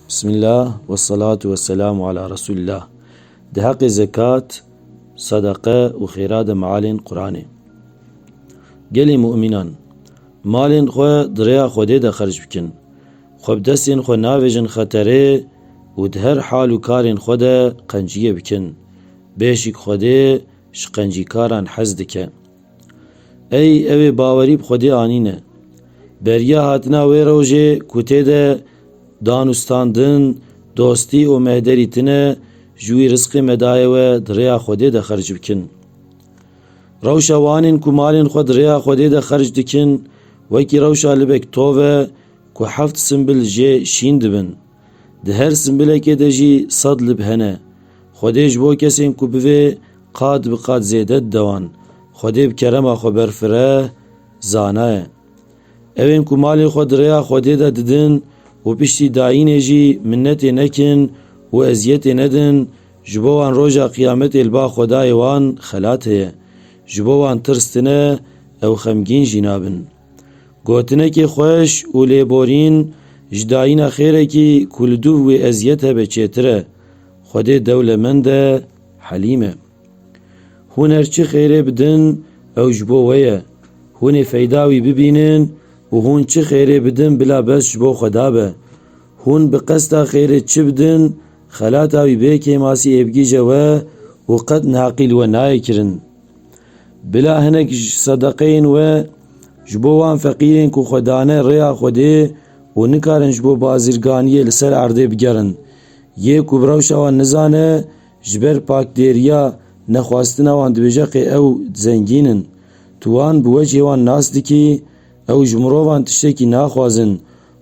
Bismillah ve salatu ve selamu ala Resulillah. Di heqê zekat, sadaqe û xêra de mealên Quranê. Gelê mu'mînan, malên xwe di rêya Xwedê de xerc bikin. Xwe bi destên xwe navêjin xeterê û di her hal û karên xwe de qenciyê bikin. Bêşik Xwedê ji qencîkaran hez dike. Ey ew ê bawerî bi xwedê anîne. Beriya hatina wê rojê ku tê de danûstandin, dostî û mehderî tine ji wî risqê me daye we di rêya xwedê de xerc bikin. Rewşa wanên ku malên xwe di rêya xwedê de xerc dikin wekî rewşa libek tov e ku heft simbil jê şîn dibin. Di her simbilekê de jî sed lib hene. Xwedê ji bo kesên ku bi vê qat bi qat zêde didewan, Xwedê bi kerema xwe berfire, zanaye. Ew ên ku malê xwe di rêya Xwedê de didin û piştî dayînê jî minnetê nekin û eziyetê nedin, ji bo wan roja qiyametê li ba Xwedayê wan xelat heye. Ji bo wan tirs tine, ew xemgîn jî nabin. Gotinekî xweş û lêborîn ji dayîna xêrekî ku li dûv wê eziyet hebe çêtir e. Xwedê dewlemend e, helîm e. Hûn her çi xêrê bidin ew ji bo we ye. Hûnê feyda wî bibînin û hûn çi xêrê bidin bila bes ji bo xweda be. Hûn bi qesta xêrê çi bidin xelata wî bê kêmasî êbgîje we û qet neheqî li we nayê kirin. Bila hinek sedeqeyên we ji bo wan feqîrên ku xwe dane rêya Xwedê û nikarin ji bo bazirganiyê li ser erdê bigerin. Yê ku bi rewşa wan nizane, ji ber pakdêriya nexwastina wan dibêje qê ew zengîn in. Tu wan bi wecihê wan nas dikî, ew ji mirovan tiştekî naxwazin.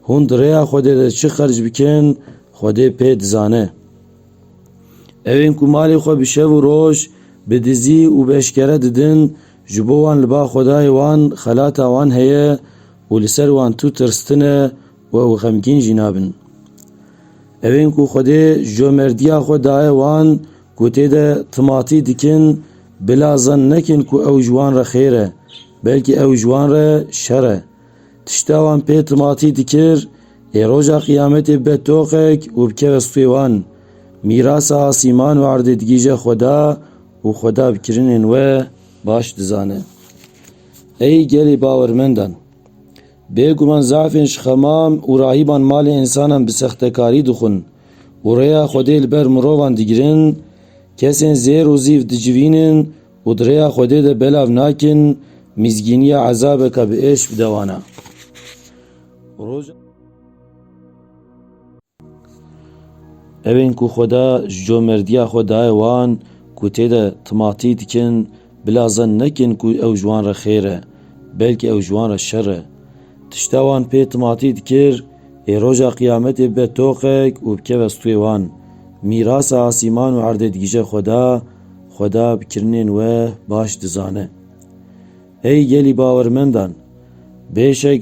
Hûn di rêya Xwedê de çi xerc bikin, Xwedê pê dizane. Ew ên ku malê xwe bi şev û roj, bi dizî û bi eşkere didin, ji bo wan li ba Xwedayê wan xelata wan heye û li ser wan tû tirstine û ew xemgîn jî nabin. Ew ên ku Xwedê comerdiya xwe daye wan ku tê de timatî dikin, bila zen nekin ku ew ji wan re xêr e, belkî ew ji wan re şer e. Tişta wan pê timatî dikir, ê roja qiyametê bibe toqek û bikeve stûyê wan. Mîrasa asîman û erdê digîje Xweda û Xweda bi kirinên we baş dizane. Ey gelê bawermendan! Bêguman zafên ji xemam û rahîban malê însanan bi sextekarî dixwin û rêya Xwedê li ber mirovan digirin, kesên zêr û zîv dicivînin, Û di rêya Xwedê de belav nakin, mîzgîniya ezabeke bi êş bi dewan e. Roja. Ew ên ku Xweda ji comerdiya xwe daye wan ku tê de timatî dikin, bila zen nekin ku ew ji wan re xêr e, belkî ew ji wan re şer e. Tişta wan pê timatî dikir, ê roja qiyametê bibe toqek û bikeve stûyê wan. Mîrasa asîman û erdê digije Xweda, Xweda bi kirinên we baş dizane. Ey gelî bawermendan! Bêşek